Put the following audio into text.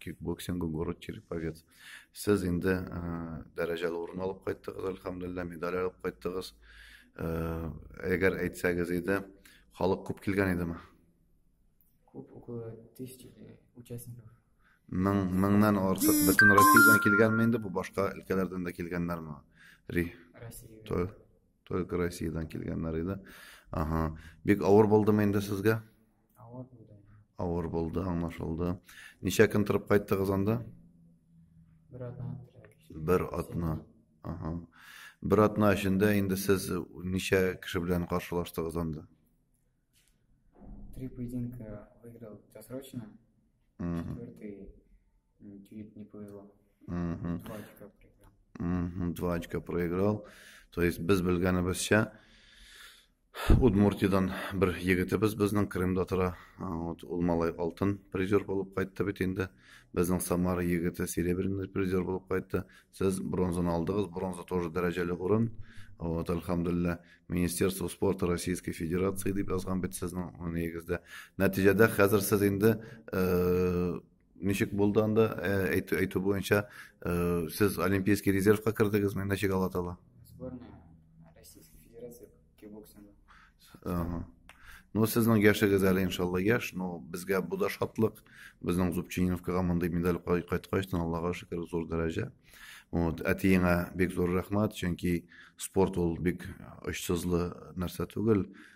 кикбоксингы город череповец сез инде дәрәҗәле урын алып кайттыгыз әлхәмдулилла медаль алып кайттыгыз әгәр әйтсәгез иде халык күп килгән идеме күп около тысячи участников мең меңнән артык бөтен россиядан килгәнме инде бу башка өлкәләрдән дә килгәннәрме ри россия только россиядан килгәннәр иде ага бик авыр булдымы инде сезгә Авыр булды. Авыр булды, аңлашылды. Ничә көн торып кайттыгыз анда? Бер атна. Бер атна. Ага. Бер атна эчендә инде сез ничә кеше белән каршылаштыгыз анда? Три поединка выиграл досрочно. Четвертый чуть не повезло. Два очка проиграл. Два очка проиграл. То есть без белгәнебезчә, Удмуртиядән бер егетебез безнең Крымда тора. Вот ул малай алтын призер булып кайтты бит инде. Безнең Самара егете серебряный призер булып кайтты. Сез бронзаны алдыгыз, бронза тоже дәрәҗәле урын. Вот, альхамдулилла, Министерство спорта Российской Федерации дип язган бит сезнең нигездә. Нәтиҗәдә хәзер сез инде э, Ничек булды анда? Әйтү, әйтү буенча, сез олимпийский резервка кердегезме? Ничек Алатала? Сборная Российской Федерации кикбоксинга. Ага. Ну, сезнең яшегез әле иншалла яш, но безгә бу да шатлык. Безнең Зубчининовкага мондый медаль кайткач, Аллага шөкер, зур дәрәҗә. Вот, әтиеңә бик зур рәхмәт, чөнки спорт ул бик очсызлы нәрсә түгел.